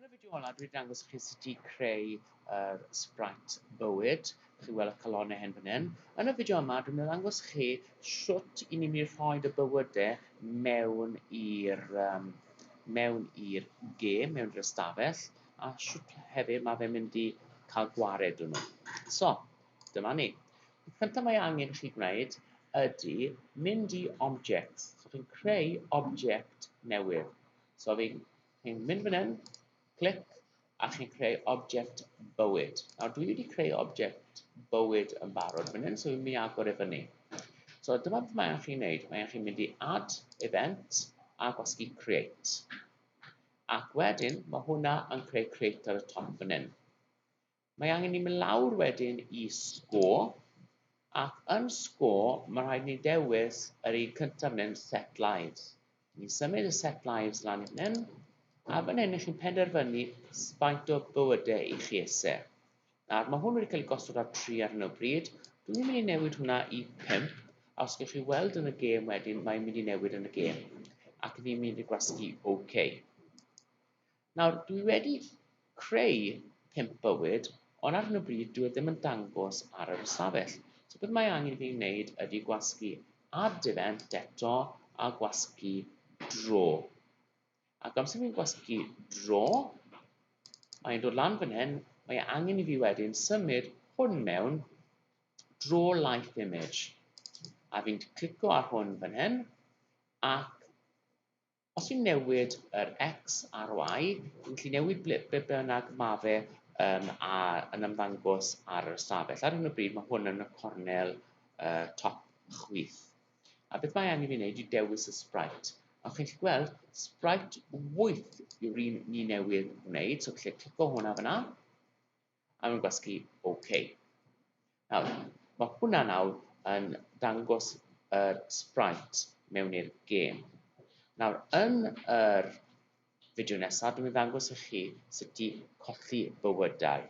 Yn y fideo olaf dwi'n dangos i chi sut i creu yr Sprite bywyd. Dych chi'n weld y calonnau hen fan hyn. Yn y fideo yma dwi'n dangos i chi sut i ni'n mynd i rhoi y bywydau mewn i'r um, mewn i'r gêm, mewn i'r ystafell, a sut hefyd mae fe'n mynd i cael gwared yn nhw. So, dyma ni. Y cyntaf mae angen i chi gwneud ydy mynd i objects. So chi'n creu object newydd. So fi'n chi mynd fan hyn, clic, a chi'n creu object bywyd. Nawr dwi wedi creu object bywyd yn barod fan hyn, so fi'n mynd i agor e fyny. So dyma beth mae'n chi'n neud. Mae'n chi'n mynd i add event a gwasgu create. Ac wedyn, mae hwnna yn creu create ar y top fan hyn. Mae angen ni mynd lawr wedyn i score, ac yn score mae rhaid ni dewis yr un cyntaf fan hyn, set lives. Ni'n symud y set lives lan i hyn, a fan hyn i chi'n penderfynu faint o bywydau i chi eisiau. Nawr, mae hwn wedi cael ei gosod ar 3 ar hyn o bryd. Dwi'n mynd i newid hwnna i 5, a os gych chi weld yn y gêm wedyn, mae'n mynd i newid yn y gêm. Ac ni'n mynd i gwasgu OK. Nawr, dwi wedi creu pump bywyd, ond ar hyn o bryd dwi e ddim yn dangos ar yr ystafell. So beth mae angen i fi wneud ydy gwasgu add event eto a gwasgu draw. Ac amser fi'n gwasgu draw, mae'n dod lan fan hyn, mae e angen i fi wedyn symud hwn mewn draw life image. A fi'n clico ar hwn fan hyn, ac Os fi'n newid yr X a'r Y, fi'n gallu newid ble, be bynnag ma fe um, a, yn ymddangos ar yr ystafell. Ar hyn o bryd mae hwn yn y cornel uh, top chwith. A beth mae angen fi wneud i dewis y sprite. A chi'n gallu gweld, sprite wyth yw'r un ni newydd wneud, so gallu clico hwnna fyna. Am gwasgu OK. Nawr, mae hwnna nawr yn dangos yr sprite mewn i'r gêm. Nawr, yn yr fideo nesaf, dwi'n mynd ddangos i chi sut i colli bywydau.